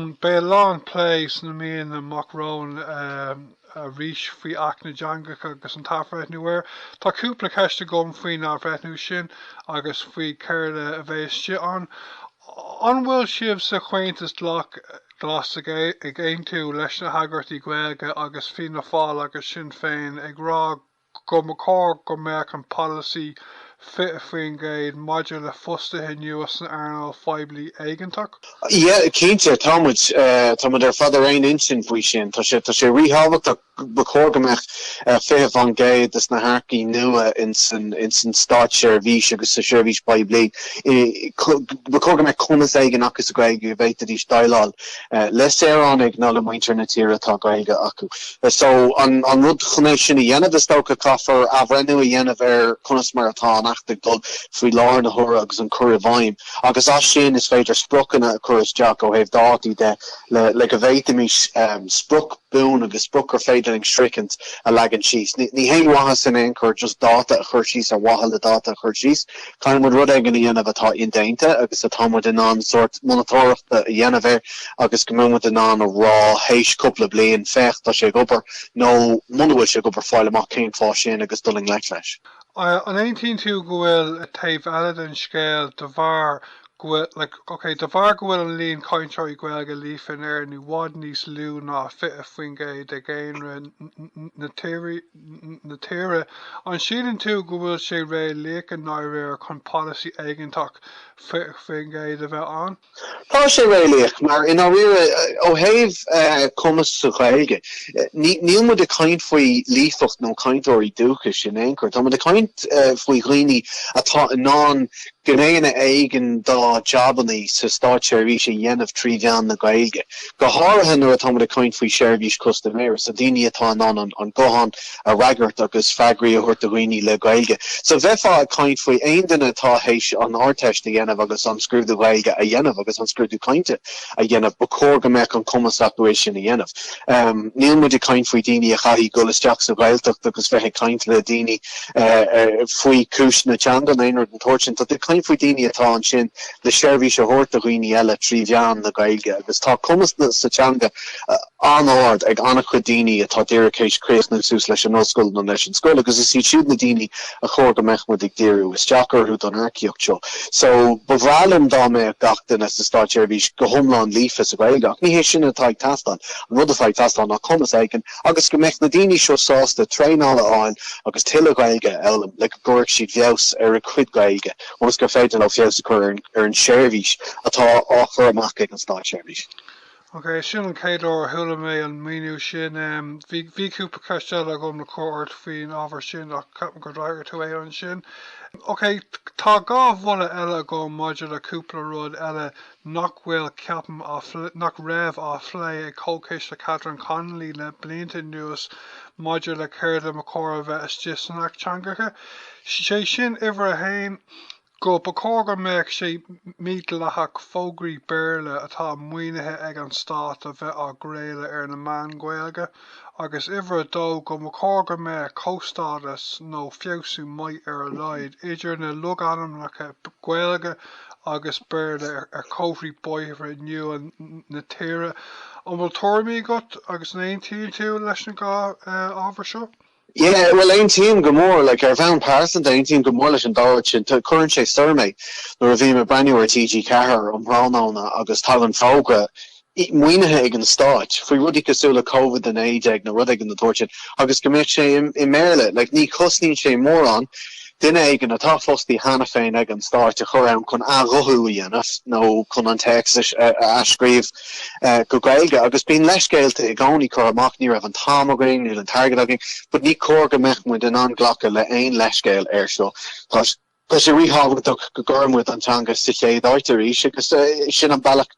Beidh a lán plé sna míonna amach romhainn arís faoi Acht na dTeangacha agus an t-athbhreithniú air. Tá cúpla ceist agam faoin athbhreithniú sin agus faoi céard a bheidh istigh ann. An bhfuil sibh sa Chomhaontas Glas ag aontú leis na heagraíochtaí Gaeilge agus Fianna Fáil agus Sinn Féin ag rá go mba chóir go mbeadh an polasaí 20% maidir le fostaithe nua san earnáil phoiblí éigeantach. Yeah, cinnte, tá muid, tá muid ar fad ar aon intinn faoi sin. Tá sé, tá sé ríthábhachtach, ba chóir go mbeadh 20% de na hearcaigh nua in san, in san státseirbhís agus sa seirbhís phoiblí, ba chóir go mbeadh cumas éigin acu sa Ghaeilge go bhféadfaidís déileáil. le saoránaigh nó le muintir na tíre atá Gaeilge acu. So, an rud chun é sin a dhéanamh, is dócha, caithfear athbhreithniú a dhéanamh ar conas mar atá an Acht ag dul faoi láthair na huaire agus an cur i bhfeidhm. Agus as sin, is féidir spriocanna a chur isteach ó thaobh dátaí de le le go bhféadfaimis sprioc buan agus sprioc gur féidir linn a shroichint a leagan síos. Ní haon mhaitheas in aon chor just dáta a chur síos ar mhaithe le dáta a chur síos. Caithfidh muid rud éigin a dhéanamh atá indéanta agus atá muid in ann sórt monatóireachta a dhéanamh air agus go mbeidh muid in ann a rá théis cúpla bliain, féach, tá sé ag obair, nó muna bhfuil sé ag obair, fáil amach cén fáth sin agus dul i ngleic leis. An aontaíonn tú go bhfuil taobh eile den scéal de bharr go bhfuil, like, ok, de bharr go bhfuil an líon cainteoirí Gaeilge líofa in Éirinn i bhfad níos lú ná 20% de dhaonra na tíre, na tíre. An síleann tú go bhfuil sé réalaíoch i ndáiríre chun polasaí éigeantach 20% a bheith ann? Tá sé réalaíoch, mar i ndáiríre, ó thaobh cumas sa Ghaeilge, níl muid ag caint faoi líofacht nó cainteoirí dúchais in aon chor, tá muid ag caint faoi dhaoine atá in ann Gnéithe éigin dá jabanna sa státseirbhís a dhéanamh trí mheán na Gaeilge, go háirithe nuair atáimid ag caint faoi sheirbhís custaiméara, so daoine atá in ann an guthán a fhreagairt agus freagraí a thabhairt do dhaoine le Gaeilge. So bheifeá ag caint faoi aon duine atá théis an Ardteist a dhéanamh agus an scrúdú Gaeilge a dhéanamh agus an scrúdú cainte a dhéanamh, ba chóir go mbeadh an cumas acu é sin a dhéanamh. Níl muid ag caint faoi daoine a chaithfidh dul isteach sa Ghaeltacht agus bheith ag caint le daoine faoi chúis na teanga nó aon rud den tsórt sin. Tá tú ag caint faoi daoine atá ansin le seirbhís a thabhairt do dhaoine eile trí mheán na Gaeilge agus tá cumas sa teanga an-ard ag an-chuid daoine atá díreach tar éis críochnú suas leis an ollscoil nó leis an scoil agus is iad siúd na daoine a chóir go mbeadh muid ag díriú isteach orthu don earcaíocht seo. So, ba bhreá liom dá mbeadh gach duine sa státseirbhís go hiomlán líofa sa Ghaeilge, ach ní hé sin atá ag teastáil. An rud atá ag teastáil ná cumas éigin agus go mbeadh na daoine seo sásta traenáil a fháil agus tuilleadh Gaeilge a fhoghlaim le go gcuirfeadh siad feabhas ar a gcuid Gaeilge ionas gur féidir leo feabhas a chur ar an tseirbhís atá á chur amach ag an státseirbhís. Ok, sin an chéad uair a chuala mé an míniú sin. Bhí, bhí cúpla ceist eile agam le cur ort faoin ábhar sin ach ceapaim gur fhreagair tú é ansin. Ok, tá dhá mholadh eile agam maidir le cúpla rud eile nach bhfuil, ceapaim, á phlé, nach raibh á phlé ag Comhchiste Catherine Connolly le blianta anuas maidir le céard a ba chóir a bheith istigh san Acht Teangacha, sé sin, uimhir a haon, go mba chóir go mbeadh sé mídhleathach fógraí Béarla atá maoinithe ag an Stát a bheith á gcraoladh ar na meáin Ghaeilge, agus uimhir a dó, go mba chóir go mbeadh comhstádas nó feabhsú maith ar a laghad idir na logainmneacha Gaeilge agus Béarla ar chomharthaí bóithre nua na tíre. An bhfuil tuairimí agat agus an aontaíonn tú leis na dhá ábhar seo? Yeah, bhuel, aontaím go mór. Like, ar bhonn pearsanta, aontaím go mór leis an dá rud sin. Tá, cuireann sé soir mé nuair a bhím ag breathnú ar TG4 um thráthnóna agus tagann fógra, i- maoinithe ag an stáit, faoi rudaí cosúil le Covid-19 nó rud éigin den tsórt sin, agus go mbeadh sé i, i mBéarla. Like, ní chosnaíonn sé mórán. Duine éigin, atá fostaí cheana féin ag an stáit, a chur ann chun athghuthú a dhéanamh nó chun an téacs a athscríobh go Gaeilge. Agus bíonn leithscéalta i gcónaí curtha amach, ní raibh an t-am againn, níl an t-airgead againn. But ní chóir go mbeadh muid in ann glacadh le haon leithscéal air seo. Tá sé ríthábhachtach go gcuireann muid an teanga sa chéad áit arís agus sin an bealach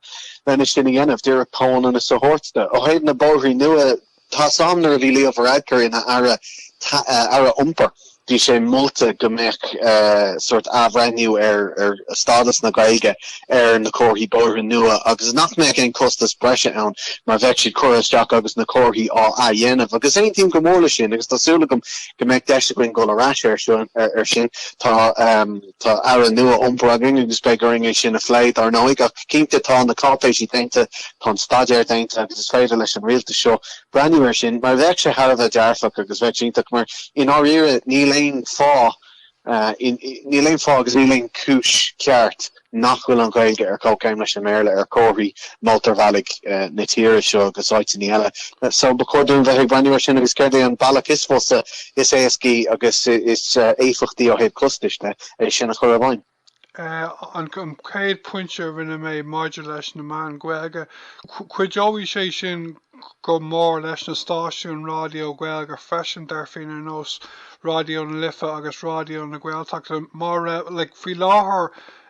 lena sin a dhéanamh, díreach comhionannas a thabhairt di. Ó thaobh na bóithre nua Tá sam, nuair a bhí Leo Varadkar ina aire, aire iompair, bhí sé molta go mbeadh sórt athbhreithniú ar stádas na Gaeilge ar na comharthaí bóithre nua agus nach mbeadh aon chostas breise ann mar bheadh siad curtha isteach agus na comharthaí á athdhéanamh. Agus aontaím go mór leis sin agus tá súil agam go mbeidh deis againn dul ar ais air sin. Tá. Tá Aire nua Iompair againn agus beidh orainn é sin a phlé, dar ndóigh, ach cinnte tá na cáipéisí déanta, tá an staidéar déanta agus is féidir leis an rialtas seo breathnú air sin mar bheadh sé thar a bheith dearfach agus bheadh sé iontach mar, i ndáiríre, níl aon fáth, níl aon fáth agus níl aon chúis cheart nach bhfuil an Ghaeilge ar comhchéim leis an mBéarla ar chomharthaí mótarbhealaigh na tíre seo agus áiteanna eile. So, ba chóir dúinn bheith ag breathnú air sin agus céard é an bealach is fusa is éascaí agus is éifeachtaí ó thaobh costais de é sin a chur i bhfeidhm. An chéad phointe a rinne mé maidir leis na meáin Ghaeilge, cuideoidh sé sin go mór leis na stáisiúin ráidió Gaeilge freisin, dar finn, ar nós Raidió na Life agus Raidió na Gaeltachta. Mar, like, faoi láthair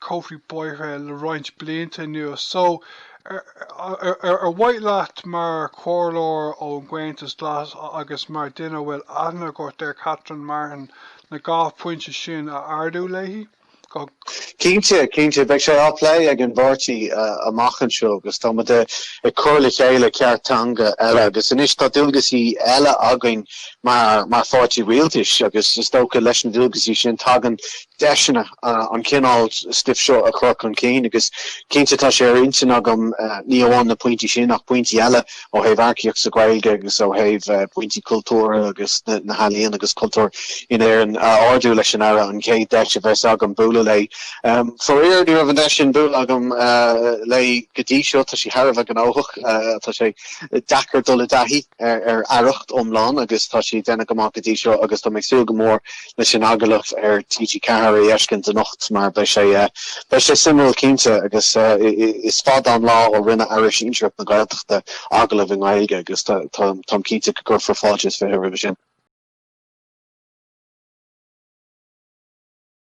Comharthaí bóithre le roinnt blianta anuas. So, ar mhaith leat mar chomhairleoir ón gComhaontas Glas agus mar duine a bhfuil aithne agat ar Catherine Martin an dá phointe sin a ardú léi? Cinnte, cinnte. Beidh sé á phlé ag an bpáirtí amach anseo agus tá muid ag cur le chéile cairt teanga eile agus anois tá dualgaisí eile againn mar pháirtí rialtais agus is dócha leis na dualgaisí sin tagann deiseanna an cineál stuife seo a chur chun cinn agus cinnte tá sé ar intinn agam ní amháin na pointí sin ach pointí eile ó thaobh earcaíocht sa Ghaeilge agus ó thaobh pointí cultúrtha agus na healaíon agus cultúr in Éirinn a ardú leis an Aire an chéad deis a bheas agam bualadh léi. Faraor ní raibh an deis sin bualadh agam léi go dtí seo, tá sí thar a bheith gnóthach, tá sé deacair dul i dtaithí ar aireacht iomlán agus tá sí ag déanamh go maith go dtí seo agus tá mé ag súil go mór leis an agallamh ar TG4 a fheiscint anocht mar beidh sé beidh sé suimiúil cinnte agus is fada an lá ó rinne Aire Sinsearach na Gaeltachta agallamh i nGaeilge agus tá táim cinnte go gcuirfear fáilte is fiche roimhe sin.